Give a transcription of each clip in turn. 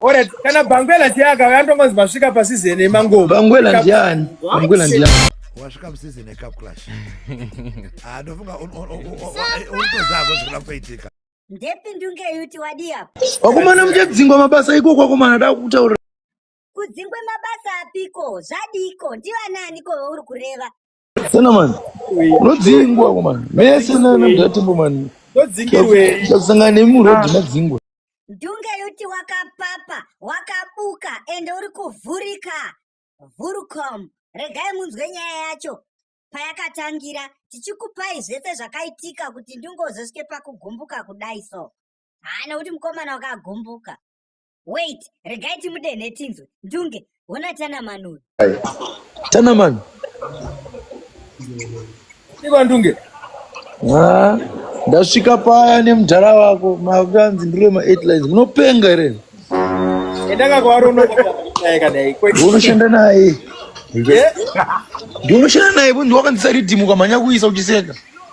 Ora kana Bangwela ndiye akauya andongonzi masvika pasizeni yemangoma. Bangwela ndiani? Bangwela ndiani? wasvika musizini yecup clash ah, ndofunga unotozako zvikula kuitika ndepi ndunge yuti wadii apa wakomana muchadzingwa mabasa iko kwakomana da kutaura kudzingwe mabasa apiko zvadiiko ndivanaaniko vauri kureva Sena man. Rodzingwa ko man. Mese na na ndatembo man. Rodzingirwe. Tasanga ne mu road madzingwa. Dunge yuti wakapapa, wakabuka ende uri kuvhurika. Vhurucom. Regai munzwe nyaya yacho payakatangira tichikupai zvese zvakaitika kuti ndingozosvike pakugumbuka kudai so. Haa nekuti mukomana wakagumbuka. Wait, regai timudenhe tinzwe. Ndunge, hona Tanaman uyu. Tanaman. Iva Ndunge. Ah, ndasvika paya nemudhara wako makanzi ndiri ma eight lines munopenga here endaka kwaari unoshanda naye unoshanda naye ndiunoshanda naye ndiwakanzisa ridhimu ukamhanya kuisa uchiseka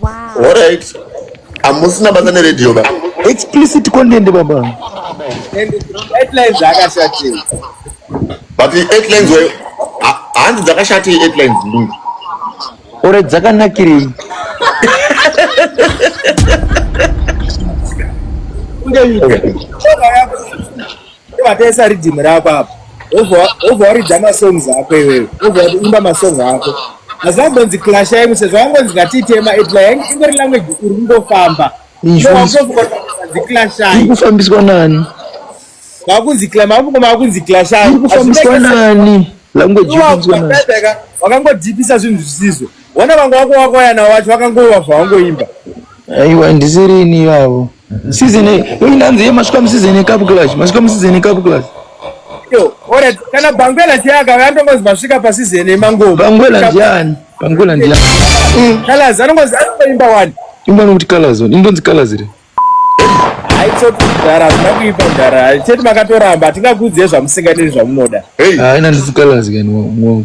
Wow. All right. Amusina basa neredio ba. Explicit content baba. And headlines zvakashatei. But the headlines were hanzi dzakashatei headlines ndungu. Ore dzakanakirei. Okay. Vatesa riddim rako apa. Wobva waridza masongs ako iwewe. Wobva waimba masong ako. Asi vangonzi clash yangu sezvo vangonzi ngatitema edla yangu ingori language uri kungofamba. Ikufambiswa nani? Vakunzi clash, vakungoma vakunzi clash. Ikufambiswa nani? Language ikufambiswa nani? Wakangodipisa zvinhu zvisizvo. Wana vangu wako wako yana wacho vakangova zvawangoimba. Aiwa ndisiri ini ivavo. Season A. Uyu ndanzi masvika musizini yekapu clash. Masvika musizini yekapu clash. Yo, ora kana Bangwela chiyaka vantongozi masvika pasizini yemangoma. Bangwela ndiani? Bangwela ndiani? Mm. Kalazi anongozi anoimba wani? Imba nokuti Kalazi. Indonzi Kalazi re. Aitsoti ndara zvakuipa ndara. Chete makatoramba tingakudzezva musinganiri zvamunoda. Hey. Ah, ina ndisi Kalazi kani mwangu.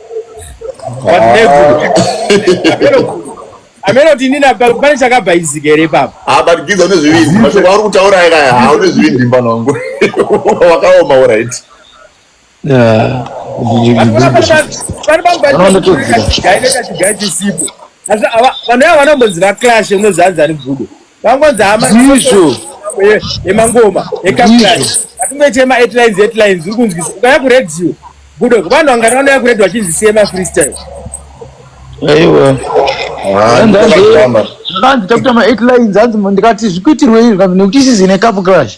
amene kuti inini pane chakabhaizika here papa abatikidza ah, une zvivindi mashoko auri kutaura ayaya ah, une zvivindi mfana wangu wakaoma orit vanouya vanombonzi vaclashe unozanzani bvudo Vangonzi hama ndizvo yemangoma yekaplani atingoite maheadlines headlines uri kunzwisa ukaya kuradio budo vanhu vangani vanoya kuradio vachinzi siye mafreestyle aiwa zvakanzi takuita maheadlines hanzi ndikati zvikuitirwei zvikanzi nekuti isizi nekapu crash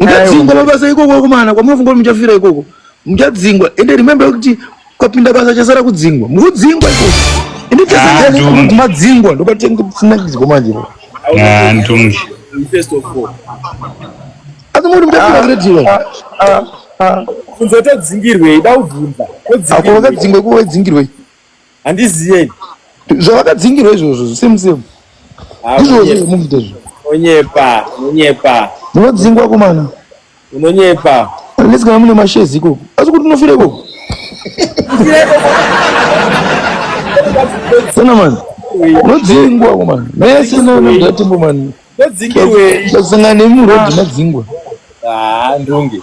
muchadzingwa mabasa ikoko akomana kwamunofunga kuti muchafira ikoko muchadzingwa ende remember kuti kwapinda basa chasara kudzingwa mukudzingwa ikoko ende chasara madzingwa ndokatinakidzwa manje ndonge first of all asi muri muchafira kune tiwe kunze todzingirwei da ubvunza ako vakadzingwa kuwe dzingirwei handiziye ini zvavakadzingirwa izvozvo same same Ah, ndizvozvo unonyepa, zvemufuta izvo unonyepa unonyepa munodzingwa kumana unonyepa unless kana mune mashezi ikoko asi kuti unofira ikoko sana mani unodzingwa kumana mese nanatimbo mani ndodzingirwei kusangana nemurodhi madzingwa Ah, ndunge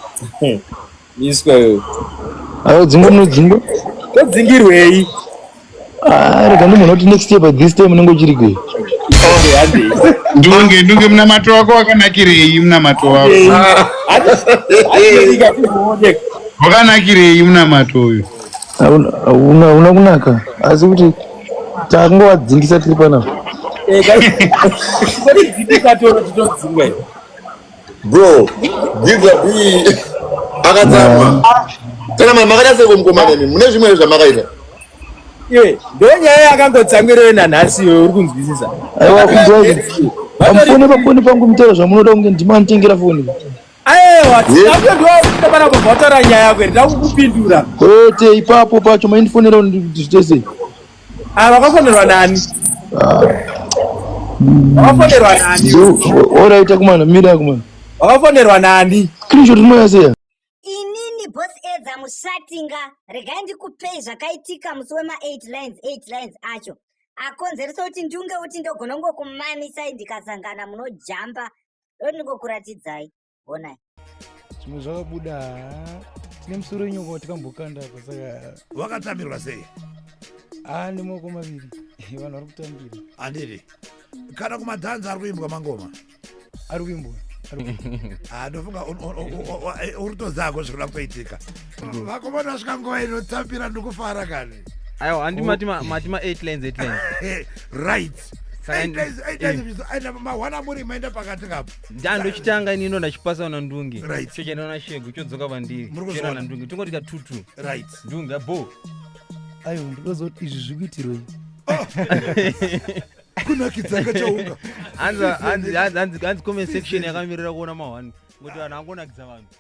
Iswa yo. Ayo dzingo no dzingo. Ko dzingirwei? Ah, rega munhu oti next year by this time unenge uchiri kwe. Ndunge ndunge mna mato wako wakanakirei mna mato wako. Wakanakirei mna mato uyu. Una una kunaka. Asi kuti tango wadzingisa tiri panapa. Eh, kai. Kodi dzikatoro titodzingwa. Bro, Gidza B akatsamwa. Kana mama makadase kumkomana imi, mune zvimwe zvamakaita. Ye, ndonyaya yakangotsamwirei nanhasi iwe uri kunzwisisa. Aiwa kunzwai. Pamfoni pafoni pangu mutoro zvamunoda kunge ndimanitengera foni. Aiwa, tinakuti ndiwakuita pana kubhotora nyaya yako, ndakukupindura. Kwete, ipapo pacho maindifonera kuti zvitese. Ah, vakafonerwa nani? Ah. Vakafonerwa nani? Oraita kumana, mira kumana. Vakafonerwa nani? Screenshot inoya seya. Inini boss Edza mushatinga, regai ndikupei zvakaitika musi wema 8 lines 8 lines acho. Akonzeresa kuti ndiunge kuti ndogona kungokumamisai ndikasangana munojamba. Ndoti ndingokuratidzai. honai zvimwe zvakabuda tine musoro wenyoko watikambokanda apa saka wakatambirwa sei haa nemaoko maviri vanhu vari kutambira handiti kana kumadhanzi ari kuimbwa mangoma ari kuimbwa ah, ndofunga uri tozako zvikuda kutoitika vakomana vasvika nguva inotambira ndikufara kani aiwa handi mati ma 8 lines 8 lines right aina mawana muri maenda pakati kapo ndandochitanga inino ndachipasa na ndunge right chochenda na shegu chodzoka vandiri chena na ndunge tingoti ka tutu right ndunge abo ayo ndozoti izvi zvikuitirwe oh. kunakidza kachaunga hanzi hanzi hanzi comment section yakamirira kuona mahwani ngoti vanhu angonakidza vanhu